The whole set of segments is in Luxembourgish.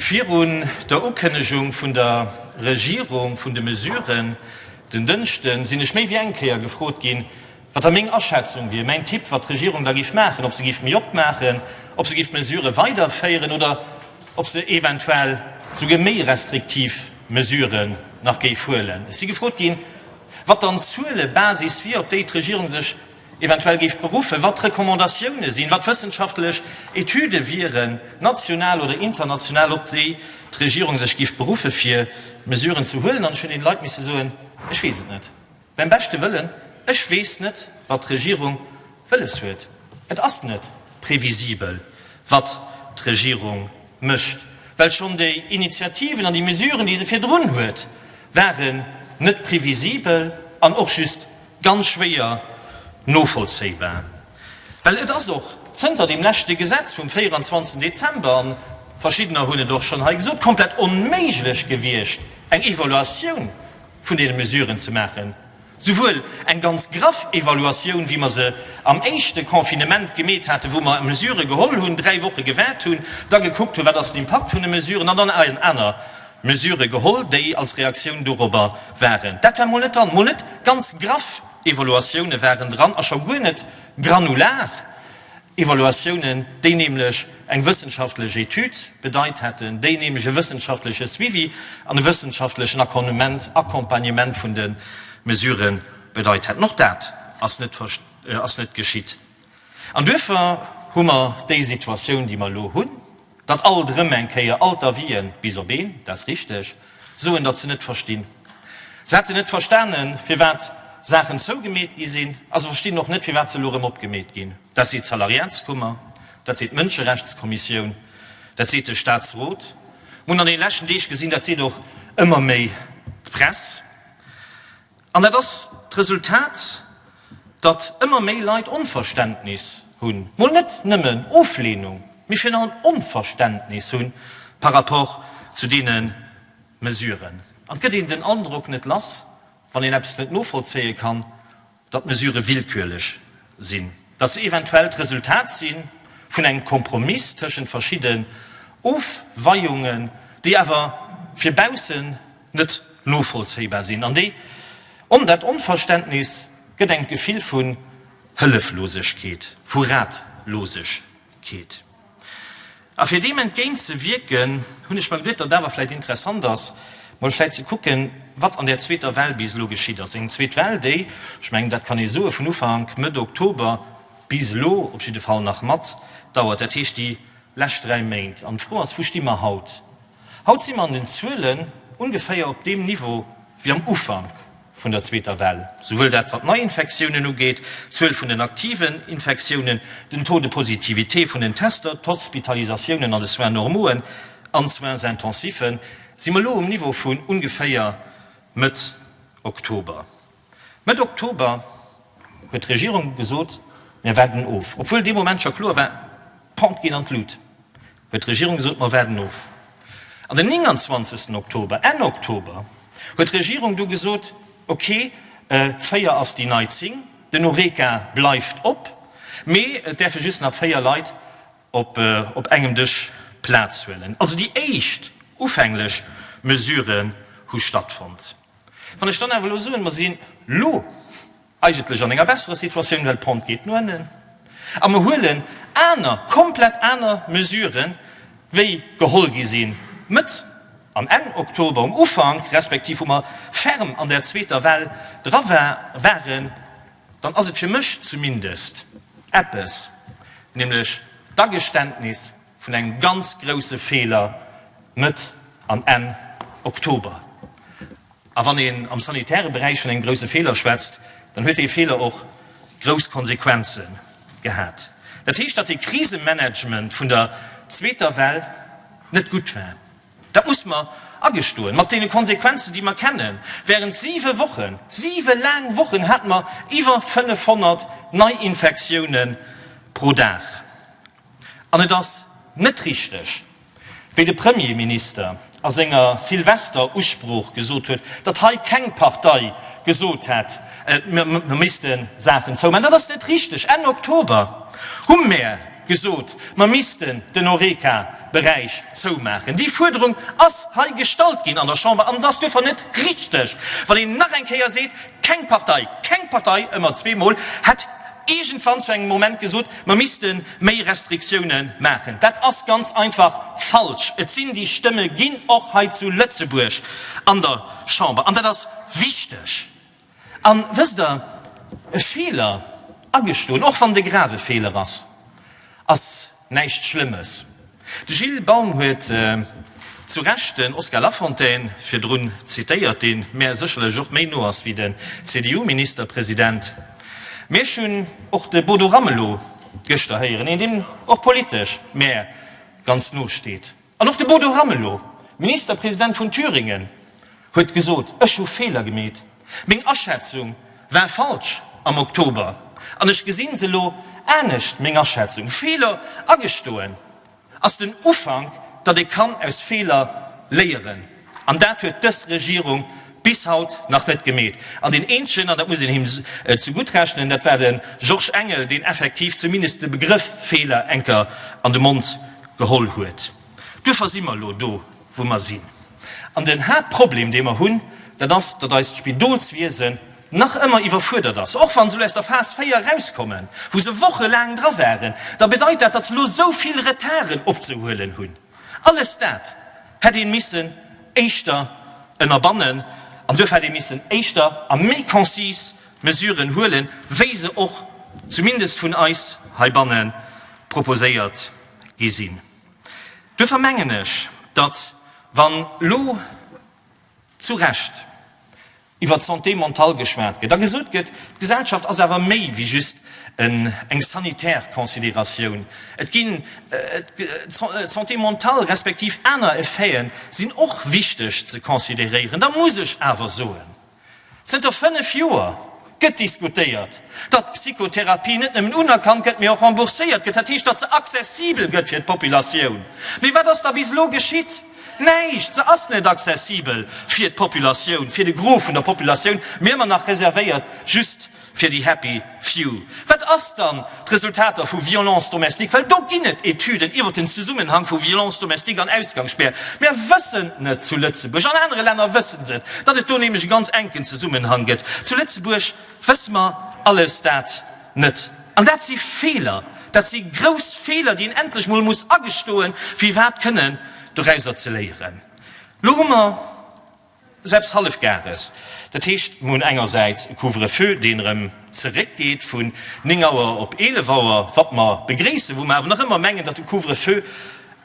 Virun der Ukënnegung vun der Regierung vun de Mesuren den Dënschden sinn ech méi wéi eng Kéier gefrot ginn, wat da meng Aschätzung wier, mäin Tipp, wat d'Regierung da giff maachen, ob se giff méi op maachen, ob se giff d'Mesurë weiderféieren oder ob se eventuell souguer méi restriktiv Mesuren nach géif huelen. Ech si gefrot ginn, wat dann d'Zuelebasis wier, op déi d'Regierung sech Eventuell géif beruffen, wat d'Recommandatioune sinn, wat wëssenschaftlech Etüde wieren, national oder international, op déi d'Regierung sech géif beruffen, fir Mesuren ze huelen. An ech hunn deene Leit misse soen, Ech weess et net. Beim beschte Wëllen, ech weess net, wat d'Regierung wëlles huet. Et ass net previsibel, wat d'Regierung mécht, well schonn déi Initiativen an déi Mesuren, déi se virdrun huet, ware net previsibel an och just Ganz schwéier novollzéibar, well et ass och zënter deem leschte Gesetz vum 24 Dezember, an verschiddener hunn et och schonn hei gesot, komplett onméiglech gewiescht eng Evaluatioun vun deene Mesuren ze maachen, souwuel eng ganz graff Evaluatioun, wéi mer se am éischte Confinement gemeet haten, wou mer Mesurë geholl hunn, dräi Woche gewaart hunn, da gekuckt hunn, wat ass den Impakt vun de Mesuren, an dann aner Mesure geholl, déi als Reaktioun dorobber waren. Dat war mol net dran. Mol net ganz graff Evaluatioune waren dran a scho guer net granular Evaluatiounen, déi nämlech eng wëssenschaftlech Etüd bedeit hätten, déi nämlech e wëssenschaftleche Suivi an e wëssenschaftlechen Accompagnement vun de Mesurë bedeit hätten. Och dat ass net geschitt. An duerfir hu mer déi Situatioun, déi mer elo hunn, datt alt erëm eng Kéier all d'Avisen, bis op een, dat ass richtig, soen, datt se net verstinn. Se hätten net verstanen, firwat Saachen zougemeet gi sinn, a se verstinn och net, firwat se elo erëm opgemeet ginn. Dat seet d'Salariatskummer, dat seet d'Mënscherechtskommissioun, dat seet de Statsrot. Mer hunn an deene leschten Deeg gesinn, dat seet och ëmmer méi d'Press. An dat ass d'Resultat, datt ëmmer méi Leit Onverständnis hunn, mol net nëmmen Ofleenung, mee virun allem Onverständnis hu par rapport zu deene Mesuren. An et gëtt een den Androck net lass, wann een eppes net novollzéie kann, datt d'Mesurë willkürlech sinn, datt se eventuell d'Resultat si vun engem Kompromiss tëschent verschidden Ofweiungen, déi awer fir baussen net novollzéibar sinn an déi on dat Onverständnis gëtt eng d'Gefill vu Hëlleflosegkeet, vu Ratlosegkeet. A fir deem entgéint ze wierken, hunn ech mer geduet, datt et awer vläicht interessant ass, mol vläicht ze kucken, wat an där zweeter Well bis elo geschitt ass, eng zweet Well, déi, ech mengen, dat kann ee soen, vun Ufank, Mëtt Oktober bis elo op jidde Fall nach mat dauert, dat heescht déi lescht dräi Méint. An d'Fro ass, Wou sti mer haut? Haut si mer an den Zuelen ongeféier op deem Niveau wéi am Ufank vun der zweeter Well, souwuel dat wat d'Neiinfektiounen ugeet, d'Zuel vun den aktiven Infektiounen, den Taux de positivité vun den Tester, d'Hospitalisatiounen an de Soins normauen an d'Soins intensiven, si mer elo um Niveau vun ongeféier Mëtt Oktober. Mëtt Oktober huet d'Regierung gesot, Mir waarden of. Obwuel dee Moment scho kloer war, Pont geet an d'Lut, huet d'Regierung gesot, Mer waarden of. An den 29 Oktober, Enn Oktober, huet d'Regierung du gesot, Okay, 4 ass déi nei 10, den Horeca bleift op, mee et däerfe just nach 4 Leit op engem Dësch Plaz huelen. Also déi éischt ufänglech Mesuren hu stattfonnt. Wann ech dann awer elo soen, mer sinn elo eigentlech an enger besserer Situatioun, well d'Pente geet no ënnen a mer huelen aner, komplett aner Mesuren, wéi geholl gi sinn Mëtt an Enn Oktober, um Ufank respektiv wou mer ferm an där zweeter Well dra waren, dann ass et fir mech zumindest eppes, nämlech d'Ageständnis, vun engem ganz grousse Feeler Mëtt an Enn Oktober. A wann een am sanitäre Beräich vun engem grousse Feeler schwätzt, dann huet dee Feeler och grouss Konsequenze gehat. Dat heescht, datt de Krisemanagement vun der zweeter Well net gutt war. Dat muss mer agestoen, mat deene Konsequenzen, déi mer kennen. Wärend siwe Wochen, siwe laang Wochen, hate mer iwwer 500 Neiinfektioune pro Dag. An et ass net richteg, wéi de Premierminister a senger Silvester-Usprooch gesot huet, datt hei keng Partei gesot hätt, mer misste Saachen zoumaachen. Dat ass net richteg. Enn Oktober hu mer gesot, mer missten den Horeca-Beräich zoumaachen. Déi Fuerderung ass hei gestallt ginn an der Chamber. An et ass duerfir net richteg, wann een nach eng Kéier seet, keng Partei, keng Partei, ëmmer zweemol, hätt iergendwann zu engem Moment gesot, mer misste méi Restriktioune maachen. Dat ass ganz einfach falsch. Et sinn déi Stëmme ginn, och hei zu Lëtzebuerg an der Chamber, an dat ass wichteg. An, wësst Der, e Feeler agestoen, och wann et e grave Feeler ass, ass, Näischt Schlëmmes. De Gilles Baum huet zu Recht den Oscar Lafontaine virdrun zitéiert, dee mär sécherlech och méi no ass wéi den CDU-Ministerpresident. Mee ech hunn och de Bodo Ramelow gëschter héieren, een, deem och politesch mär ganz no steet. An och de Bodo Ramelow, Ministerpresident vun Thüringen, huet gesot, Ech hu Feeler gemeet. Meng Aschätzung war falsch am Oktober an ech gesinn se elo anescht. Meng Aschätzung, Feeler agestoen, ass den Ufank, datt ee kann aus Feeler léieren. An dat huet dës Regierung bis haut nach net gemeet. An deen eenzegen, an dat muss een him zegutt rechnen, dat war de Georges Engel, deen effektiv zumindest de Begrëff Feeler eng Kéier an de Mond geholl huet. Duerfir si mer elo do, wou mer sinn. An den Haaptproblem, dee mer hunn, dat ass, datt eist Spidolswiesen nach ëmmer iwwerfuerdert ass. Och wa se elo aus der Phas 4 erauskommen, wou se wochelaang dra waren, da bedeit dat, datt se elo esou vill Retarden opzehuelen hunn, Alles dat hätt ee missen éischter ënnerbannen an duerfir hätt ee missen éischter a méi konzis Mesuren huelen, wéi se och zumindest vun eis heibanne proposéiert gi sinn. Duerfir mengen ech, datt, wann elo zu Recht, iwwer d'Santé mentale geschwat gëtt a gesot gëtt, d'Gesellschaft ass awer méi wéi just eng sanitär Considératioun. Et ginn d'Santé mentale respektiv aner Effete sinn och wichteg ze considéréieren. Da muss ech awer soen, Zënter fënnef Joer gëtt diskutéiert, datt d'Psychotherapie net nëmmen unerkannt gëtt, mee och rembourséiert gëtt, dat heescht, datt se accessibel gëtt fir d'Populatioun. Mee wat ass da bis elo geschitt? Näischt, se ass net accessibel fir d'Populatioun, fir de Gros vun der Populatioun, mee ëmmer nach reservéiert just fir déi happy few. Wat ass dann d'Resultater vu Violences domestiques? Well do ginn et Etüden iwwer den Zesummenhang vu Violences domestiques an Ausgangsspär. Mär wëssen net zu Lëtzebuerg, an anere Länner wësse se et, datt et do nämlech e ganz enken Zesummenhang gëtt. Zu Lëtzebuerg wësse mer alles dat. Net. An dat si Feeler, dat si grouss Feeler, déi een endlech mol muss agestoen, fir iwwerhaapt kënnen dorauser ze léieren. Elo hu mer selbst Hallefgares, dat heescht, mer hunn engersäits e Couvre-feu, deen erëm zeréckgeet vun néng Auer op eelef Auer, wat mer begréissen, wou mer awer nach ëmmer mengen, datt de Couvre-feu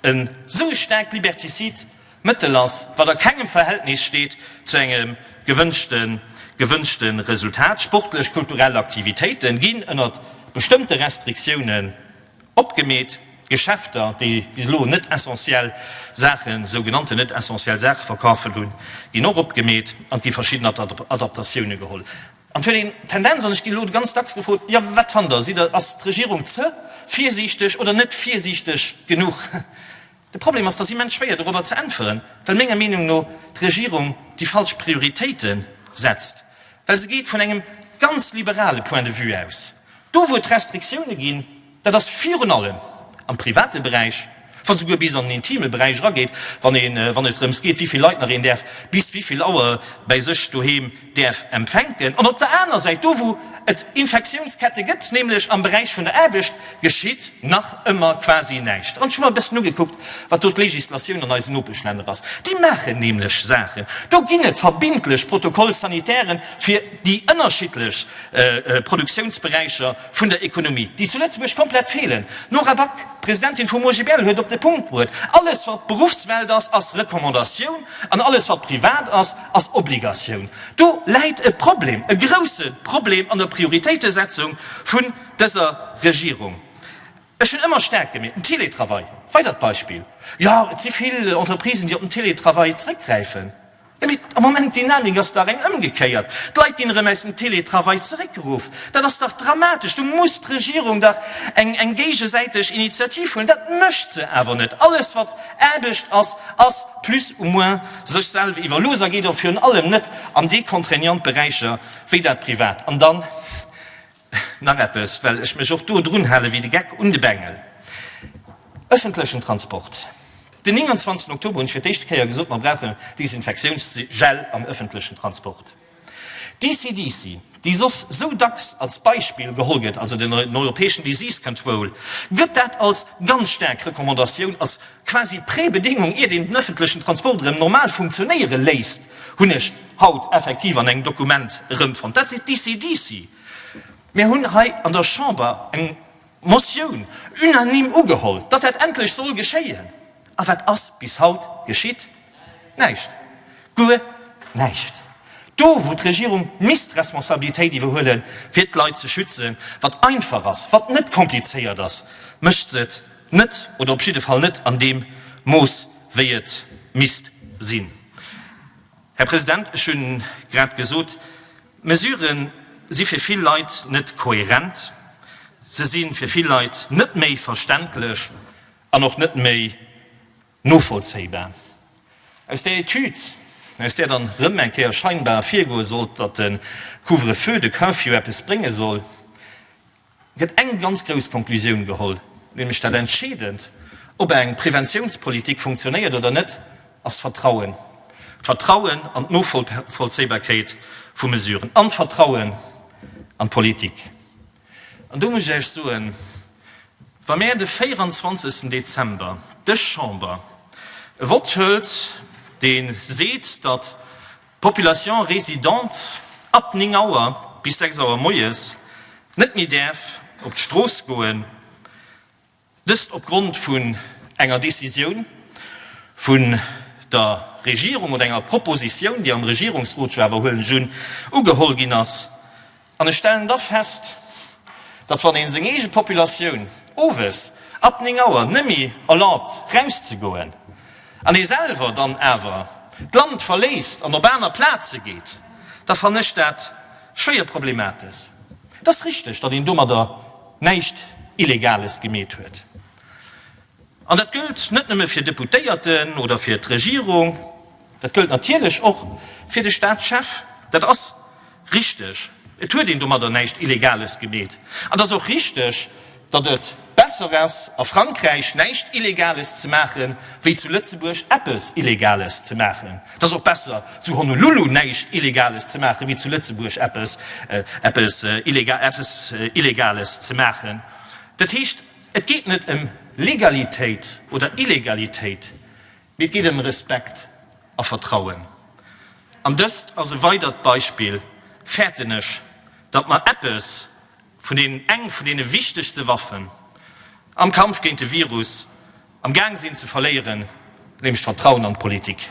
e sou e staarkt Liberticide, Mëttel ass, wat a kengem Verhältnis steet zu engem gewënschte Resultat. Sportlech, kulturell Aktivitéiten ginn ënnert bestëmmte Restriktiounen opgemeet. Geschäfter, déi bis elo net essentiell Saachen, esou genannten net essentiell Saachen verkafen hunn, ginn och opgemeet an et gi verschidden Adaptatioune geholl. An et huet een d'Tendenz, an ech ginn elo ganz dacks gefrot, jo wat fannt der, ass d'Regierung ze virsiichteg oder net virsiichteg genuch? De Problem ass, dass immens schwéier dorobber ze äntweren, well menger Meenung no d'Regierung déi falsch Prioritéite setzt, well se geet vun engem ganz liberale Point de vue aus. Do wou et Restriktioune ginn, dat ass virun allem am private Beräich, wann esouguer bis an den intime Beräich erageet, wann et drëms geet, wéi vill Leit nach een däerf bis wéi vill Auer bäi sech doheem, däerf empfänken, an op der aner Säit, do wou et Infektiounskette gëtt, nämlech am Beräich vun der Aarbecht, geschitt nach ëmmer quasi näischt. An ech hu mer e bëssen ugekuckt, wat do d'Legislatioun an eisen Nopeschlänner ass. Déi maachen nämlech Saachen, do ginn et verbindlech Protocoles sanitaires fir déi ënnerschiddlech Produktiounsberäicher vun der Ekonomie, déi zu Lëtzebuerg komplett feelen. D'Nora Back, d'Presidentin vum OGBL, huet op de Punkt bruet, Alles, wat Beruffswelt ass, ass Recommandatioun, an alles, wat privat ass, Ass Obligatioun. Do läit e Problem, e grouse Problem an der Prioritéitesetzung vun dëser Regierung. Ech hunn ëmmer staark gemeet, den Teletravail, weidert Beispill, jo et si vill Entreprisen, déi op den Teletravail zeréckgräifen. Jo mee am Moment, d'Dynamik ass dach eng ëmgekéiert, d'Leit ginn erëm aus dem Teletravail zeréckgeruff. Dat ass dach dramatesch. Do muss d'Regierung dach eng géigesäiteg Initiativ huelen. Dat mécht se awer net. Alles wat Aarbecht ass, ass plus ou moins Sech selw iwwerlooser geet och virun allem net an déi contraignant Beräicher wéi dat Privat. An dann nach eppes, well ech mech och do drun hale wéi de Geck un de Bengel, Ëffentlechen Transport. Den 29 Oktober hunn ech fir d'éischte Kéier gesot, mer brauchen Desinfektiounsgel am ëffentlechen Transport. D'ECDC, déi soss sou dacks als Beispill geholl gëtt, also den europäeschen Disease Control, gëtt dat als ganz staark Recommandatioun, als quasi Prébedéngung, iert een den ëffentlechen Transport erëm normal funktionéiere léisst, hunn ech haut effektiv an engem Dokument erëmfonnt. Dat seet d'ECDC. Mir hunn hei an der Chamber eng. Motioun unanime ugeholl, datt dat endlech soll geschéien. A wat ass bis haut geschitt? Näischt, guer näischt! Do, wou d'Regierung misst Responsabilitéit iwwerhuele fir d'Leit ze schützen, wat einfach ass, wat net komplizéiert ass, mécht se et net oder op jidde Fall net an deem Mooss, wéi et misst sinn. Här President, ech hu grad gesot, D'Mesurë si fir vill Leit net kohärent, se si fir vill Leit net méi verständlech an och net méi novollzéibar. Aus där Etüd, aus där dann erëm eng Kéier scheinbar ervirgoe sollt, datt de Couvre-feu, de Curfew eppes brénge soll, gëtt eng ganz grouss Konklusioun geholl, nämlech dat Entscheedend, ob eng Preventiounspolitik funktionéiert oder net, ass d'Vertrauen. D'Vertrauen an d'Novollzéibarkeet vu Mesuren an d'Vertrauen an d'Politik. An do muss ech Iech soen, Wa mir de 24. Dezember dës Chamber e Vott hëlt, dee seet, datt Population résidente ab 9 Auer bis 6 Auer moies net méi däerf op d'Strooss goen, dëst opgrond vun enger Décisioun vun der Regierung oder enger Proposition, déi am Regierungsrot, ech wëll awer huelen, ugehol ginn ass. An ech stellen da fest, datt wann ee seng eege Populatioun owes ab 9 Auer nemme erlaabt rauszegoen, an ee selwer dann awer d'Land verléisst an op aner Plaze geet, da fannen ech dat schwéier problemates. Et ass richteg, datt een domadder näischt Illegales gemeet huet. An dat gëllt net nëmme fir Deputéierten oder fir d'Regierung, dat gëllt natierlech och fir de Staatschef. Dat ass richteg, et huet een domadder näischt Illegales gemeet. An et ass och richteg, datt et besser ass a Frankräich näischt Illegales ze maache wéi zu Lëtzebuerg eppes Illegales ze maachen. Et ass och besser zu Honolulu näischt Illegales ze maache wéi zu Lëtzebuerg eppes Illegales ze maachen. Dat heescht. Et geet net ëm Legalitéit oder Illegalitéit, mee et geet ëm Respekt a Vertrauen. An dëst ass e weidert Beispill, fäerten ech, datt mer eppes vun deenen, eng vun deene wichtegste Waffen am Kampf géint de Virus am Gaang sinn ze verléieren, nämlech d'Vertrauen an d'Politik.